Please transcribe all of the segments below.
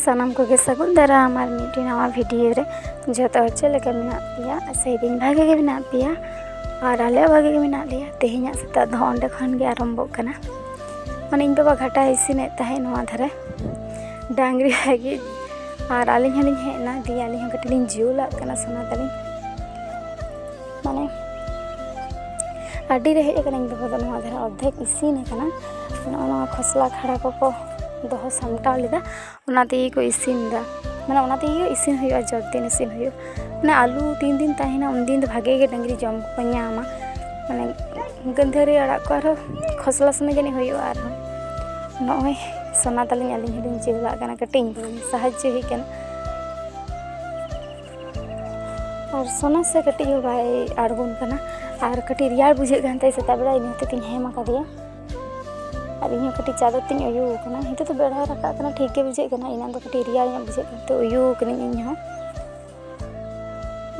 ᱥᱟᱱᱟᱢ ᱠᱚᱜᱮ ᱥᱟᱹᱜᱩᱱ ᱫᱟᱨᱟᱢ ᱟᱨ ᱢᱤᱫᱴᱮᱱ ᱱᱟᱣᱟ ᱵᱷᱤᱰᱤᱭᱳ ᱨᱮ ᱡᱚᱛᱚ ᱦᱚᱲ ᱪᱮᱫ ᱞᱮᱠᱟ ᱢᱮᱱᱟᱜ ᱯᱮᱭᱟ ᱥᱮᱫᱤᱱ ᱵᱷᱟᱜᱮ ᱜᱮ ᱢᱮᱱᱟᱜ ᱯᱮᱭᱟ ᱟᱨ ᱟᱞᱮ ᱵᱷᱟᱜᱮ ᱜᱮ ᱢᱮᱱᱟᱜ ᱞᱮᱭᱟ ᱛᱮᱦᱮᱧᱟᱜ ᱥᱮᱛᱟᱜ ᱫᱚ ᱚᱸᱰᱮ ᱠᱷᱚᱱ ᱜᱮ ᱟᱨᱟᱢᱵᱷᱚᱜ ᱠᱟᱱᱟ ᱢᱟᱱᱮ ᱤᱧ ᱵᱟᱵᱟ ᱜᱷᱟᱴᱟ ᱤᱥᱤᱱᱮᱫ ᱛᱟᱦᱮᱸᱫ ᱱᱚᱣᱟ ᱫᱷᱟᱨᱮ ᱰᱟᱝᱨᱤ ᱞᱟᱹᱜᱤᱫ ᱟᱨ ᱟᱹᱞᱤᱧ ᱦᱚᱸᱞᱤᱧ ᱦᱮᱡ ᱮᱱᱟ ᱫᱤᱭᱮ ᱟᱹᱞᱤᱧ ᱦᱚᱸ ᱠᱟᱹᱴᱤᱡ ᱞᱤᱧ ᱡᱩᱞᱟᱜ ᱠᱟᱱᱟ ᱥᱚᱱᱟ ᱛᱟᱹᱞᱤᱧ ᱢᱟᱱᱮ ᱟᱹᱰᱤ ᱨᱮ ᱦᱮᱡ ᱟᱠᱟᱱᱟᱹᱧ ᱵᱟᱵᱟ ᱫᱚ ᱱᱚᱣᱟ ᱫᱷᱟᱨᱟ ᱚᱨᱫᱷᱮᱠ ᱤᱥᱤᱱ ᱟᱠᱟᱱᱟ ᱱᱚᱜᱼᱚ ᱱᱚᱣᱟ ᱠᱷᱚᱥᱞᱟ ᱠᱷᱟᱲᱟ ᱠᱚᱠᱚ ᱫᱚᱦᱚ ᱥᱟᱢᱴᱟᱣ ᱞᱮᱫᱟ ᱚᱱᱟ ᱛᱮᱜᱮ ᱠᱚ ᱤᱥᱤᱱ ᱮᱫᱟ ᱢᱟᱱᱮ ᱚᱱᱟ ᱛᱮᱜᱮ ᱤᱥᱤᱱ ᱦᱩᱭᱩᱜᱼᱟ ᱡᱚᱛ ᱫᱤᱱ ᱤᱥᱤᱱ ᱦᱩᱭᱩᱜᱼᱟ ᱢᱟᱱᱮ ᱟᱹᱞᱩ ᱛᱤᱱ ᱫᱤᱱ ᱛᱟᱦᱮᱱᱟ ᱩᱱ ᱫᱤᱱ ᱫᱚ ᱵᱷᱟᱜᱮ ᱜᱮ ᱰᱟᱹᱝᱨᱤ ᱡᱚᱢ ᱠᱚᱠᱚ ᱧᱟᱢᱟ ᱢᱟᱱᱮ ᱜᱟᱹᱫᱷᱟᱹᱨᱤ ᱟᱲᱟᱜ ᱠᱚ ᱟᱨᱦᱚᱸ ᱠᱷᱚᱥᱞᱟ ᱥᱚᱢᱚᱭ ᱡᱟᱹᱱᱤᱡ ᱦᱩᱭᱩᱜᱼᱟ ᱟᱨᱦᱚᱸ ᱱᱚᱜᱼᱚᱭ ᱥᱚᱱᱟ ᱛᱟᱹᱞᱤᱧ ᱟᱹᱞᱤᱧ ᱦᱚᱸᱞᱤᱧ ᱪᱮᱫ ᱟᱜ ᱠᱟᱱᱟ ᱠᱟᱹᱴᱤᱡ ᱤᱧ ᱵᱩᱱ ᱥᱟᱦᱟᱡᱽᱡᱚ ᱦᱩᱭᱩᱜ ᱠᱟᱱᱟ ᱟᱨ ᱥᱚᱱᱟ ᱥᱮ ᱠᱟᱹᱴᱤᱡ ᱦᱚᱸ ᱵᱟᱭ ᱟᱬᱜᱚᱱ ᱠᱟᱱᱟ ᱟᱨ ᱠᱟᱹᱴᱤᱡ ᱨᱮᱭᱟᱲ ᱵᱩᱡᱷᱟᱹᱜ ᱠᱟᱱ ᱛᱟᱭᱟ ᱥᱮᱛᱟᱜ ᱵᱮᱲᱟ ᱤᱱᱟᱹ ᱛᱮᱜᱮᱧ ᱦᱮᱢ ᱟᱠᱟᱫᱮᱭᱟ ᱟᱨ ᱤᱧ ᱦᱚᱸ ᱠᱟᱹᱴᱤᱡ ᱪᱟᱫᱚᱨ ᱛᱤᱧ ᱩᱭᱩ ᱟᱠᱟᱱᱟ ᱱᱤᱛᱚᱜ ᱫᱚ ᱵᱮᱲᱟᱭ ᱨᱟᱠᱟᱵ ᱠᱟᱱᱟ ᱴᱷᱤᱠ ᱜᱮ ᱵᱩᱡᱷᱟᱹᱜ ᱠᱟᱱᱟ ᱮᱱᱟᱝ ᱫᱚ ᱠᱟᱹᱴᱤᱡ ᱨᱮᱭᱟᱲ ᱧᱚᱜ ᱵᱩᱡᱷᱟᱹᱜ ᱠᱟᱱ ᱛᱮ ᱩᱭᱩ ᱟᱠᱟᱱᱟᱹᱧ ᱤᱧ ᱦᱚᱸ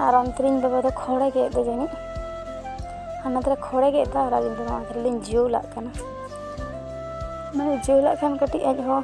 ᱟᱨ ᱚᱱᱛᱮ ᱨᱤᱧ ᱵᱟᱵᱟ ᱫᱚ ᱠᱷᱚᱲᱮ ᱜᱮᱫ ᱫᱚ ᱡᱟᱹᱱᱤᱡ ᱦᱟᱱᱟ ᱫᱷᱟᱨᱮ ᱠᱷᱚᱲᱮ ᱜᱮᱫ ᱫᱟ ᱟᱨ ᱟᱹᱞᱤᱧ ᱫᱚ ᱱᱚᱣᱟ ᱫᱷᱟᱨᱮ ᱞᱤᱧ ᱡᱩᱞᱟᱜ ᱠᱟᱱᱟ ᱢᱟᱱᱮ ᱡᱩᱞᱟᱜ ᱠᱷᱟᱱ ᱠᱟᱹᱴᱤᱡ ᱟᱡ ᱦᱚᱸ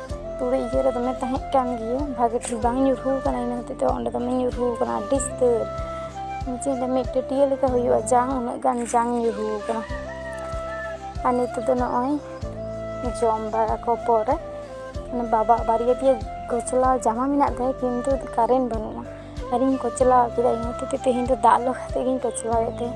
ᱛᱩᱲᱤ ᱤᱭᱟᱹ ᱨᱮ ᱫᱚᱢᱮ ᱛᱟᱦᱮᱸ ᱠᱟᱱ ᱜᱮᱭᱟ ᱵᱷᱟᱜᱮ ᱴᱷᱤᱠ ᱵᱟᱝ ᱧᱩᱨᱦᱩ ᱠᱟᱱᱟ ᱤᱱᱟᱹ ᱦᱚᱛᱮᱡ ᱛᱮ ᱚᱸᱰᱮ ᱫᱚᱢᱮ ᱧᱩᱨᱦᱩ ᱠᱟᱱᱟ ᱟᱹᱰᱤ ᱩᱥᱛᱟᱹᱨ ᱡᱮ ᱢᱤᱫ ᱴᱟᱹᱴᱭᱟᱹ ᱞᱮᱠᱟ ᱦᱩᱭᱩᱜᱼᱟ ᱡᱟᱝ ᱩᱱᱟᱹᱜ ᱜᱟᱱ ᱡᱟᱝ ᱧᱩᱨᱦᱩ ᱠᱟᱱᱟ ᱟᱨ ᱱᱤᱛᱚᱜ ᱫᱚ ᱱᱚᱜᱼᱚᱭ ᱡᱚᱢ ᱵᱟᱲᱟ ᱠᱚ ᱯᱚᱨᱮ ᱢᱟᱱᱮ ᱵᱟᱵᱟ ᱵᱟᱨᱭᱟ ᱯᱮᱭᱟ ᱠᱚᱪᱞᱟᱣ ᱡᱟᱢᱟ ᱢᱮᱱᱟᱜ ᱛᱟᱭᱟ ᱠᱤᱱᱛᱩ ᱠᱟᱨᱮᱱᱴ ᱵᱟᱹᱱᱩᱜᱼᱟ ᱟᱨᱤᱧ ᱠᱚᱪᱞᱟᱣ ᱠᱮᱫᱟ ᱤᱱᱟᱹ ᱦᱚᱛᱮᱡ ᱛᱮ ᱛᱮᱦᱮᱧ ᱫᱚ ᱫᱟᱜ ᱞᱚᱦᱚᱫ ᱠᱟᱛᱮᱫ ᱜᱤᱧ ᱠᱚᱪᱞᱟᱣᱮᱫ ᱛᱟᱦᱮᱸᱫ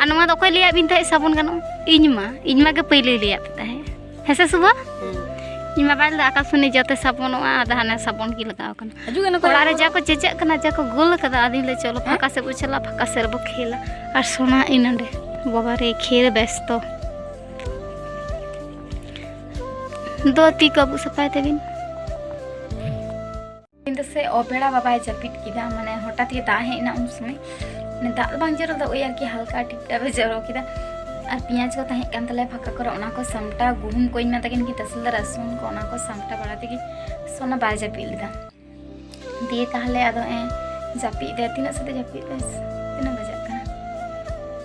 ᱟᱨ ᱱᱚᱣᱟ ᱫᱚ ᱚᱠᱚᱭ ᱞᱟᱹᱭᱟᱫ ᱵᱤᱱ ᱛᱟᱦᱮᱸᱫ ᱥᱟᱵᱚᱱ ᱜᱟᱱᱚᱜᱼᱟ ᱤᱧ ᱢᱟ ᱤᱧ ᱢᱟ ᱜᱮ ᱯᱟᱹᱭᱞᱟᱹᱭ ᱞᱟᱹᱭᱟᱫ ᱯᱮ ᱛᱟᱦᱮᱸᱫ ᱦᱮᱸ ᱥᱮ ᱥᱩᱵᱷᱟ ᱤᱧ ᱢᱟ ᱵᱟᱭ ᱞᱟᱹᱭᱫᱟ ᱟᱠᱟᱥᱢᱩᱱᱤ ᱡᱟᱛᱮ ᱥᱟᱵᱚᱱᱚᱜᱼᱟ ᱟᱫᱚ ᱦᱟᱱᱮ ᱥᱟᱵᱚᱱ ᱜᱮ ᱞᱟᱜᱟᱣ ᱠᱟᱱᱟ ᱦᱤᱡᱩᱜ ᱠᱟᱱᱟ ᱚᱲᱟᱜ ᱨᱮ ᱡᱟ ᱠᱚ ᱪᱮᱪᱟᱜ ᱠᱟᱱᱟ ᱡᱟ ᱠᱚ ᱜᱳᱞ ᱠᱟᱫᱟ ᱟᱫᱚᱧ ᱞᱟᱹᱭ ᱪᱚᱞᱚ ᱯᱷᱟᱸᱠᱟ ᱥᱮᱫ ᱵᱚ ᱪᱟᱞᱟᱜᱼᱟ ᱯᱷᱟᱸᱠᱟ ᱥᱮᱫ ᱨᱮᱵᱚ ᱠᱷᱮᱞᱟ ᱟᱨ ᱥᱚᱱᱟ ᱤᱧ ᱱᱚᱸᱰᱮ ᱵᱟᱵᱟ ᱨᱮ ᱠᱷᱮᱞ ᱵᱮᱥᱛᱚ ᱫᱚ ᱛᱤ ᱠᱚ ᱟᱵᱩᱜ ᱥᱟᱯᱷᱟᱭ ᱛᱟᱹᱵᱤᱱ ᱧᱤᱫᱟᱹ ᱥᱮ ᱚᱵᱮᱲᱟ ᱵᱟᱵᱟᱭ ᱡᱟᱹᱯᱤᱫ ᱠᱮᱫᱟ ᱢᱟᱱᱮ ᱦᱚᱴᱟᱛ ᱜᱮ ᱫᱟᱜ ᱦᱮᱡ ᱮᱱᱟ ᱩᱱ ᱥᱚᱢᱚᱭ ᱢᱟᱱᱮ ᱫᱟᱜ ᱫᱚ ᱵᱟᱝ ᱡᱚᱨᱚ ᱫᱚ ᱳᱭ ᱟᱨᱠᱤ ᱦᱟᱞᱠᱟ ᱴᱤᱯᱴᱟᱯ ᱮ ᱡᱚᱨᱚ ᱠᱮᱫᱟ ᱟᱨ ᱯᱮᱸᱭᱟᱡᱽ ᱠᱚ ᱛᱟᱦᱮᱸ ᱠᱟᱱ ᱛᱟᱞᱮᱭᱟ ᱯᱷᱟᱸᱠᱟ ᱠᱚᱨᱮ ᱚᱱᱟ ᱠᱚ ᱥᱟᱢᱴᱟᱣ ᱜᱩᱦᱩᱢ ᱠᱚᱧ ᱢᱮᱛᱟ ᱠᱤᱱ ᱠᱤᱱ ᱛᱟᱥᱮᱞ ᱫᱟ ᱨᱟᱹᱥᱩᱱ ᱠᱚ ᱚᱱᱟ ᱠᱚ ᱥᱟᱢᱴᱟᱣ ᱵᱟᱲᱟ ᱛᱮᱜᱮ ᱥᱚᱱᱟ ᱵᱟᱭ ᱡᱟᱹᱯᱤᱫ ᱞᱮᱫᱟ ᱫᱤᱭᱮ ᱛᱟᱦᱞᱮ ᱟᱫᱚ ᱮ ᱡᱟᱹᱯᱤᱫ ᱫᱟᱭ ᱛᱤᱱᱟᱹᱜ ᱥᱟᱛᱮ ᱡᱟᱹᱯᱤᱫ ᱫᱟᱭ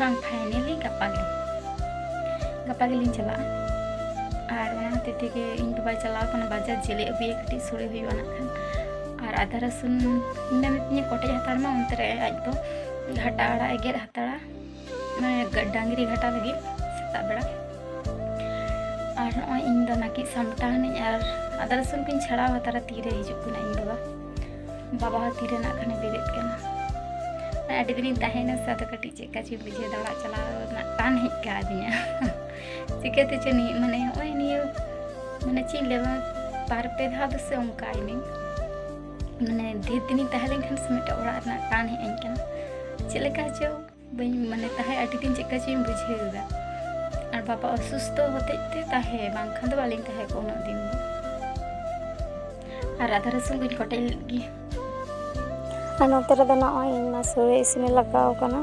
ᱵᱟᱝ ᱯᱷᱟᱭᱱᱮᱞᱤ ᱜᱟᱯᱟ ᱜᱮ ᱜᱟᱯᱟ ᱜᱮᱞᱤᱧ ᱪᱟᱞᱟᱜᱼᱟ ᱟᱨ ᱚᱱᱟ ᱦᱚᱛᱮᱡ ᱛᱮᱜᱮ ᱤᱧ ᱵᱟᱵᱟᱭ ᱪᱟᱞᱟᱣ ᱠᱟᱱᱟ ᱵᱟᱡᱟᱨ ᱡᱮᱞᱮ ᱟᱹᱜᱩᱭᱟ ᱠᱟᱹᱴᱤᱡ ᱥᱳᱲᱮ ᱦᱩᱭᱩᱜᱼᱟ ᱱᱟᱠᱷᱟᱱ ᱟᱨ ᱟᱫᱟ ᱨᱟᱹᱥᱩᱱ ᱢᱮᱱ ᱛᱤᱧᱟᱹ ᱠᱚᱴᱮᱡ ᱦᱟᱛᱟᱲ ᱢᱟ ᱚᱱᱛᱮ ᱨᱮ ᱟᱡ ᱫᱚ ᱜᱷᱟᱴᱟ ᱟᱲᱟᱜ ᱮ ᱜᱮᱫ ᱦᱟᱛᱟᱲᱟ ᱢᱟᱱᱮ ᱰᱟᱝᱨᱤ ᱜᱷᱟᱴᱟ ᱞᱟᱹᱜᱤᱫ ᱥᱮᱛᱟᱜ ᱵᱮᱲᱟ ᱟᱨ ᱱᱚᱜᱼᱚᱭ ᱤᱧ ᱫᱚ ᱱᱟᱹᱠᱤᱡ ᱥᱟᱢᱴᱟᱣ ᱱᱟᱹᱧ ᱟᱨ ᱟᱫᱟ ᱨᱟᱹᱥᱩᱱ ᱠᱚᱧ ᱪᱷᱟᱲᱟᱣ ᱦᱟᱛᱟᱲᱟ ᱛᱤᱨᱮ ᱦᱤᱡᱩᱜ ᱠᱟᱱᱟ ᱤᱧ ᱵᱟᱵᱟ ᱵᱟᱵᱟ ᱦᱚᱸ ᱛᱤᱨᱮ ᱱᱟᱜ ᱠᱷᱟᱱᱮ ᱵᱮᱨᱮᱫ ᱠᱟᱱᱟ ᱟᱹᱰᱤ ᱫᱤᱱᱤᱧ ᱛᱟᱦᱮᱸᱭᱮᱱᱟ ᱥᱮ ᱟᱫᱚ ᱠᱟᱹᱴᱤᱡ ᱪᱮᱫ ᱠᱟ ᱪᱚᱧ ᱵᱩᱡᱷᱟᱹᱣ ᱫᱟᱲᱟᱜ ᱪᱟᱞᱟᱣ ᱨᱮᱱᱟᱜ ᱴᱟᱱ ᱦᱮᱡ ᱠᱟᱣᱫᱤᱧᱟ ᱪᱤᱠᱟᱹᱛᱮ ᱪᱚ ᱱᱤᱭᱟᱹ ᱢᱟᱱᱮ ᱱᱚᱜᱼᱚᱭ ᱱᱤᱭᱟᱹ ᱢᱟᱱᱮ ᱪᱮᱫ ᱤᱧ ᱞᱟᱹᱭᱟ ᱵᱟᱨ ᱯᱮ ᱫᱷᱟᱣ ᱫᱚ ᱥᱮ ᱚᱱᱠᱟᱭᱮᱱᱟᱹᱧ ᱢᱟᱱᱮ ᱰᱷᱮᱨ ᱫᱤᱱᱤᱧ ᱛᱟᱦᱮᱸ ᱞᱮᱱᱠᱷᱟᱱ ᱥᱮ ᱢᱤᱫᱴᱮᱱ ᱚᱲᱟᱜ ᱨᱮᱱᱟᱜ ᱴᱟᱱ ᱦᱮᱡ ᱟᱹᱧ ᱠᱟᱱᱟ ᱪᱮᱫ ᱞᱮᱠᱟ ᱪᱚ ᱵᱟᱹᱧ ᱢᱟᱱᱮ ᱛᱟᱦᱮᱸ ᱟᱹᱰᱤ ᱫᱤᱱ ᱪᱮᱫᱠᱟ ᱪᱚᱧ ᱵᱩᱡᱷᱟᱹᱣ ᱮᱫᱟ ᱟᱨ ᱵᱟᱵᱟ ᱚᱥᱩᱥᱛᱷᱚ ᱦᱚᱛᱮᱡ ᱛᱮ ᱛᱟᱦᱮᱸ ᱵᱟᱝᱠᱷᱟᱱ ᱫᱚ ᱵᱟᱹᱞᱤᱧ ᱛᱟᱦᱮᱸ ᱠᱚᱜᱼᱟ ᱩᱱᱟᱹᱜ ᱫᱤᱱ ᱫᱚ ᱟᱨ ᱟᱫᱷᱟ ᱨᱟᱹᱥᱩᱱ ᱠᱚᱧ ᱠᱚᱴᱮᱡ ᱞᱮᱫ ᱜᱮ ᱟᱨ ᱱᱚᱛᱮ ᱨᱮᱫᱚ ᱱᱚᱜᱼᱚᱭ ᱤᱧ ᱢᱟ ᱥᱳᱲᱮ ᱤᱥᱤᱱᱮ ᱞᱟᱜᱟᱣ ᱠᱟᱱᱟ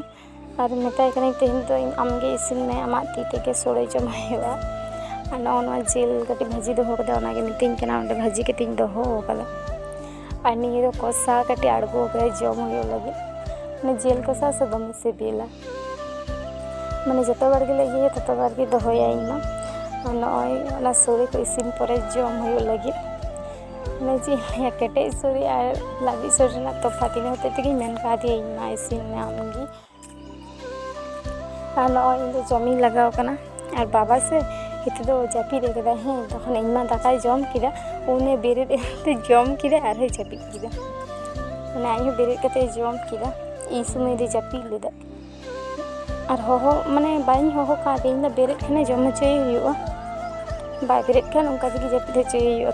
ᱟᱨ ᱢᱮᱛᱟᱭ ᱠᱟᱹᱱᱟᱹᱧ ᱛᱮᱦᱮᱧ ᱫᱚ ᱤᱧ ᱟᱢᱜᱮ ᱤᱥᱤᱱ ᱢᱮ ᱟᱢᱟᱜ ᱛᱤ ᱛᱮᱜᱮ ᱥᱳᱲᱮ ᱡᱚᱢ ᱦᱩᱭᱩᱜᱼᱟ ᱟᱨ ᱱᱚᱜᱼᱚ ᱱᱚᱣᱟ ᱡᱤᱞ ᱠᱟᱹᱴᱤᱡ ᱵᱷᱟᱹᱡᱤ ᱫᱚᱦᱚ ᱠᱟᱫᱟ ᱚᱱᱟᱜᱮ ᱢᱤᱛᱟᱹᱧ ᱠᱟᱱᱟ ᱚᱸᱰᱮ ᱵᱷᱟᱹᱡᱤ ᱠᱟᱛᱮᱧ ᱫᱚᱦᱚ ᱠᱟᱫᱟ ᱟᱨ ᱱᱤᱭᱟᱹ ᱫᱚ ᱠᱚᱥᱟ ᱠᱟᱹᱴᱤᱡ ᱟᱬᱜᱚ ᱠᱟᱛᱮ ᱡᱚᱢ ᱦᱩᱭᱩᱜ ᱞᱟᱹᱜᱤᱫ ᱢᱟᱱᱮ ᱡᱤᱞ ᱠᱚᱥᱟ ᱥᱮ ᱫᱚᱢᱮ ᱥᱤᱵᱤᱞᱟ ᱢᱟᱱᱮ ᱡᱚᱛᱚ ᱵᱟᱨ ᱜᱮᱞᱮ ᱤᱭᱟᱹᱭᱟ ᱛᱚᱛᱚ ᱵᱟᱨ ᱜᱮ ᱫᱚᱦᱚᱭᱟ ᱤᱧ ᱢᱟ ᱟᱨ ᱱᱚᱜᱼᱚᱭ ᱚᱱᱟ ᱥᱚᱲᱮ ᱠᱚ ᱤᱥᱤᱱ ᱯᱚᱨᱮ ᱡᱚᱢ ᱦᱩᱭᱩᱜ ᱞᱟᱹᱜᱤᱫ ᱢᱟᱱᱮ ᱪᱮᱫ ᱤᱧ ᱞᱟᱹᱭᱟ ᱠᱮᱴᱮᱡ ᱥᱚᱲᱮ ᱟᱨ ᱞᱟᱹᱵᱤᱫ ᱥᱚᱲᱮ ᱨᱮᱱᱟᱜ ᱛᱚᱯᱷᱟᱛ ᱤᱱᱟᱹ ᱦᱚᱛᱮᱡ ᱛᱮᱜᱮᱧ ᱢᱮᱱ ᱠᱟᱣᱫᱮᱭᱟ ᱤᱧ ᱢᱟ ᱤᱥᱤᱱ ᱢᱮ ᱟᱢ ᱜᱮ ᱟᱨ ᱱᱚᱜᱼᱚᱭ ᱤᱧ ᱫᱚ ᱡᱚᱢᱤᱧ ᱞᱟᱜᱟᱣ ᱠᱟᱱᱟ ᱟᱨ ᱵᱟᱵᱟ ᱥᱮ ᱦᱤᱛᱚᱜ ᱫᱚ ᱡᱟᱹᱯᱤᱫ ᱟᱠᱟᱫᱟᱭ ᱦᱮᱸ ᱛᱚᱠᱷᱚᱱ ᱤᱧ ᱢᱟ ᱫᱟᱠᱟᱭ ᱡᱚᱢ ᱠᱮᱫᱟ ᱩᱱᱤ ᱵᱮᱨᱮᱫ ᱮᱱᱛᱮ ᱡᱚᱢ ᱠᱮᱫᱟ ᱟᱨᱦᱚᱸᱭ ᱡᱟᱹᱯᱤᱫ ᱠᱮᱫᱟ ᱢᱟᱱᱮ ᱟᱡ ᱦᱚᱸ ᱵᱮᱨᱮᱫ ᱠᱟᱛᱮ ᱡᱚᱢ ᱠᱮᱫᱟ ᱤᱧ ᱥᱚᱢᱚᱭ ᱫᱚ ᱡᱟᱹᱯᱤᱫ ᱞᱮᱫᱟ ᱟᱨ ᱦᱚᱦᱚ ᱢᱟᱱᱮ ᱵᱟᱹᱧ ᱦᱚᱦᱚ ᱠᱟᱣᱫᱮ ᱤᱧ ᱫᱚ ᱵᱮᱨᱮᱫ ᱠᱷᱟᱱᱮ ᱡᱚᱢ ᱦᱚᱪᱚᱭᱮ ᱦᱩᱭᱩᱜᱼᱟ ᱵᱟᱭ ᱵᱮᱨᱮᱫ ᱠᱷᱟᱱ ᱚᱱᱠᱟ ᱛᱮᱜᱮ ᱡᱟᱹᱯᱤᱫ ᱦᱚᱪᱚᱭᱮ ᱦᱩᱭᱩᱜᱼᱟ